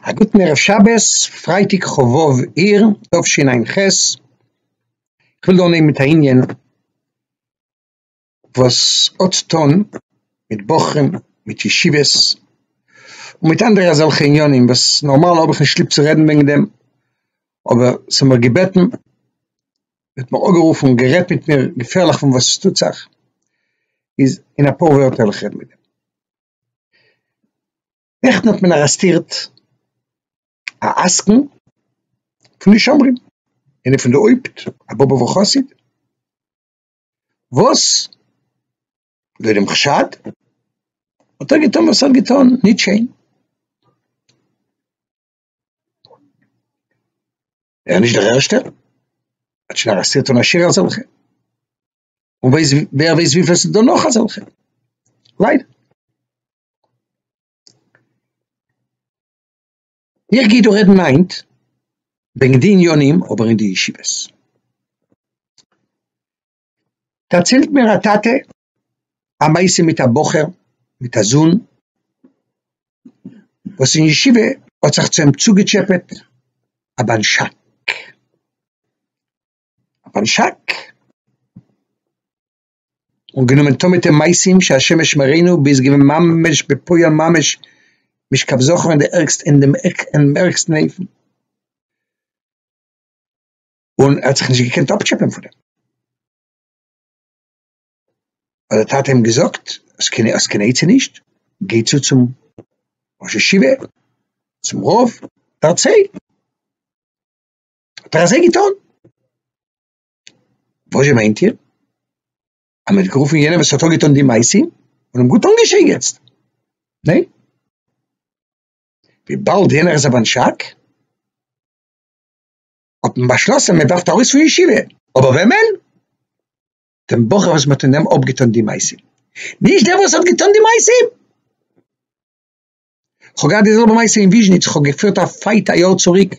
א גוטן ערב שבת, פרייטאג כ ו אייר תשע ע ח, איך וויל דא אנהייבן מיט א ענין וואס האט צו טון מיט בחורים, מיט ישיבות, און מיט אנדערע אזעלכע ענינים וואס נארמאל האב איך נישט ליב צו רעדן וועגן דעם, אבער ס'האט מיר געבעטן, מ'האט מיר אנגערופן און גערעדט מיט מיר געפערליך פון וואס עס טוט זיך, איז אין אפאר ווערטער וועל איך רעדן מיט דעם. נעכטן האט מען ארעסטירט א עסקן פון די שומרים, איינער פון די הויפט א באבובער חסיד, וואס לויט דעם חשד האט ער געטון וואס ער האט געטון, נישט שיין, ער איז נישט דער ערשטער, מען האט שוין ארעסטירט אן א שיעור אזעלכע. און ווייס ווער ווייס וויפיל ס'דא נאך אזעלכע. ליידער. איך גיי דא רעדן היינט וועגן די עניינים אבער אין די ישיבות. דערציילט מיר א טאטע א מעשה מיט א בחור מיט א זון וואס אין ישיבה האט זיך צו אים צוגעטשעפעט א בנשק. אויף אן שאק, און גענומען טון מיט אים מעשים שהשם ישמרינו ביז געווען ממש בפועל ממש משכב זכור אין די ערגסטע אין דעם ערגסטן אופן, און ער האט זיך נישט געקענט אפטשעפען פון דעם, האט דער טאטע אים געזאגט, האסט קיין האסט קיין עצה נישט? גיי צו צום ראש ישיבה, צום רב, דערצייל. האט ער אזוי געטון? וואזשע מיינט איר? אז מען האט גערופן יענעם וואס האט אנגעטון די מעשה און אים גוט אנגעשייגעצט, ניין? וויבאלד יענער איז א בנשק, האט מען באשלאסן מען ווארפט ארויס פון ישיבה, אבער וועמען? דעם בחור וואס מען האט אינעם אפגעטון די מעשה, נישט דער וואס האט געטון די מעשה! כ'האב געהאט די זעלבע מעשה אין וויזשניץ, כ'האב געפירט א פייט א יאר צוריק,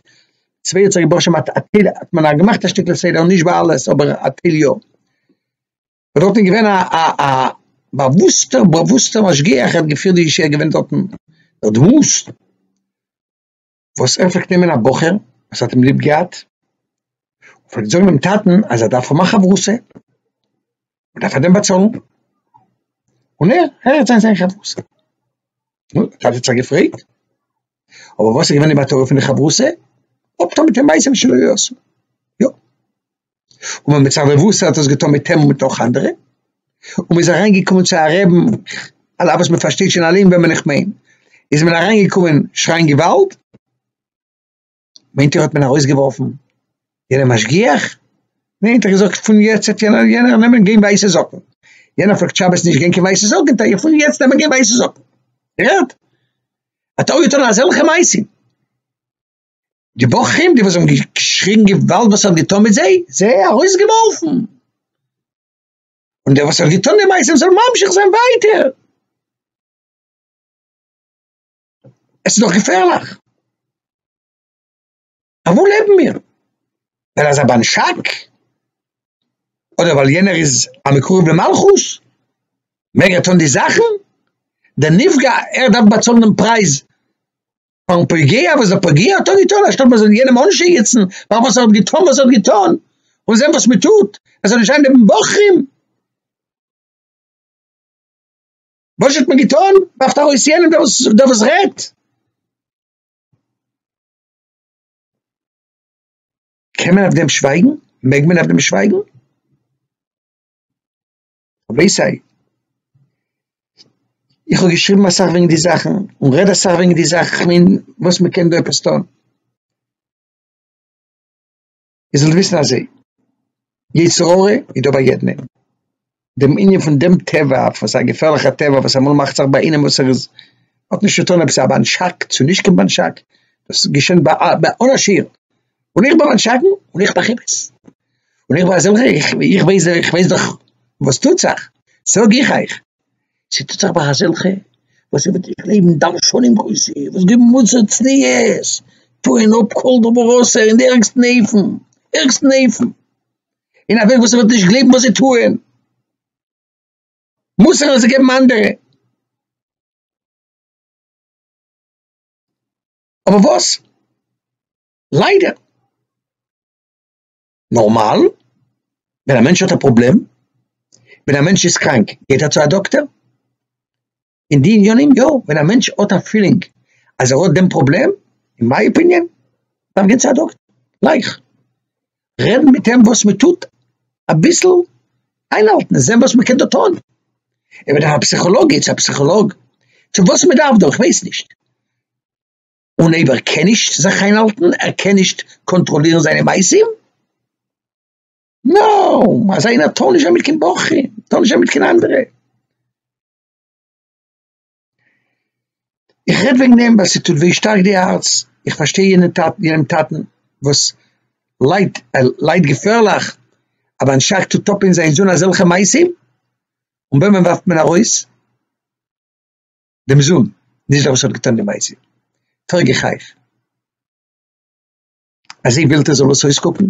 צוויי האט זיך געבראכן מיט א טייל, האט מען א געמאכט א שטיקל סדר, נישט ביי אלעס אבער א טייל יא, און דארטן איז געווען א א א באוואוסטע באוואוסטע משגיח, ער האט געפירט די ישיבה, ער איז געווען דארטן דער דמות. וואס ער פלעגט נעמען א בחור וואס האט אים ליב געהאט, און פלעגט זאגן דעם טאטן אז ער דארף האבן א חברותא, מען דארף פאר דעם באצאלן, און ער הערט זיין זיין חברותא. נו, דער טאטע האט זיך געפרעגט, אבער וואס איז געווען די מטרה פון די חברותא? אפטון מיט אים מעשים שלא יעשו. יא. און ווען מצד רבותא האט עס געטון מיט אים און מיט נאך אנדערע, און מ'איז אריין געקומען צו א רעבן, על אף וואס מ'פארשטייט שוין אלעם וועמען איך מיין, איז מען אריין געקומען שרייען געוואלד, מיינט איר האט מען ארויס געווארפן יענעם משגיח? ניין, ער האט געזאגט פון יעצט וועט יענער יענער נעמען גיין ווייסע זאקן, יענער פלעגט שבת נישט גיין קיין ווייסע זאקן, טאר איך פון יעצט נעמען גיין ווייסע זאקן? איר הערט? האט ער אויך געטון אזעלכע מעשים? די בחורים, די וואס האבן געשריגן געוואלד וואס ער האט געטון מיט זיי, זיי ארויסגעווארפן. און דער וואס האט געטון די מעשים זאל ממשיך זיין ווייטער. עס איז דאך געפערליך. אויף וואו לעבן מיר? ווייל אזא באנשאק? אדער ווייל יענער איז א מקורב למלכות? מעג ער טון די זאכן? דער נפגע, ער דארף באצאלן דעם פרייז פארן פוגע וואס דער פוגע האט דאן געטון אנשטאט מען זאל יענעם אנשייגעצן פאר וואס ער האט געטון וואס ער האט געטון און זען וואס מען טוט ער זאל נישט זיין נעבן בחורים וואס האט מען געטון ווארפט ארויס יענעם דער וואס דער וואס רעדט קען מען אויף דעם שווייגן? מעג מען אויף דעם שווייגן? רבי סיי, איך האב געשריבן אסאך וועגן די זאכן, און רעד אסאך וועגן די זאכן, איך מיין וואס מען קען דא עפעס טון. איר זאלט וויסן אזוי, יצר הרע איז דא ביי יעדן איינעם, דעם ענין פון דעם טבע, פון זיין געפערליכע טבע וואס אמאל מאכט זיך ביי איינעם וואס ער איז, האט נישט צו טון אויב ס'איז א באנטשאק צו נישט קיין באנטשאק, דאס געשענט ביי אן עשיר, און איך בין אן שקרן, און איך מאך אמת, און איך בין א זעלכער, איך ווייס, איך ווייס דאך וואס טוט זיך, זאג איך אייך, ס'טוט זיך ביי אזעלכע וואס זיי וועט איך גלייבן דרשנים גרויסע, וואס געבן מוסר צניעות, טוען אפ כל דבר אסור אין די ערגסטן אופן, ערגסטן אופן, אין א וועג וואס מ'וועט נישט גלייבן וואס זיי טוען, מוסר וואס זיי געבן אנדערע. אבער וואס? ליידער. נארמאל ווען א מענטש האט א פראבלעם, ווען א מענטש איז קראנק גייט ער צו א דאקטער, אין די עניינים יא, ווען א מענטש האט א פילינג אז ער האט דעם פראבלעם, אין מיי אפיניען, דארף גיין צו א דאקטער, גלייך. רעדן מיט אים וואס מען טוט אביסל איינהאלטן און זען וואס מען קען דא טון, ער וועט דאך א פסיכאלאג גיי צו א פסיכאלאג, צו וואס מען דארף דא איך ווייס נישט, און אויב ער קען נישט זיך איינהאלטן ער קען נישט קאנטראלירן זיינע מעשים, נאו, אזא איינער טאר נישט זיין מיט קיין בחור, טאר נישט זיין מיט קיין אנדערע. איך רעד וועגן דעם ווייל ס'טוט וויי שטארק די הארץ, איך פארשטיי יענע טאטן, יענעם טאטן וואס ליידט, ער ליידט געפערליך, א באן שייך טוט אפ אין זיין זון אזעלכע מעשים, און וועמען ווארפט מען ארויס? דעם זון, נישט דער וואס האט געטון די מעשה, פרעג איך אייך, אזוי ווילט ער זאל עס אויסקוקן?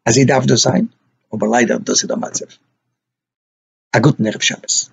אזוי דארף דאס זיין? אבער ליידער דאס איז דער מצב, א גוטן ערב שבת.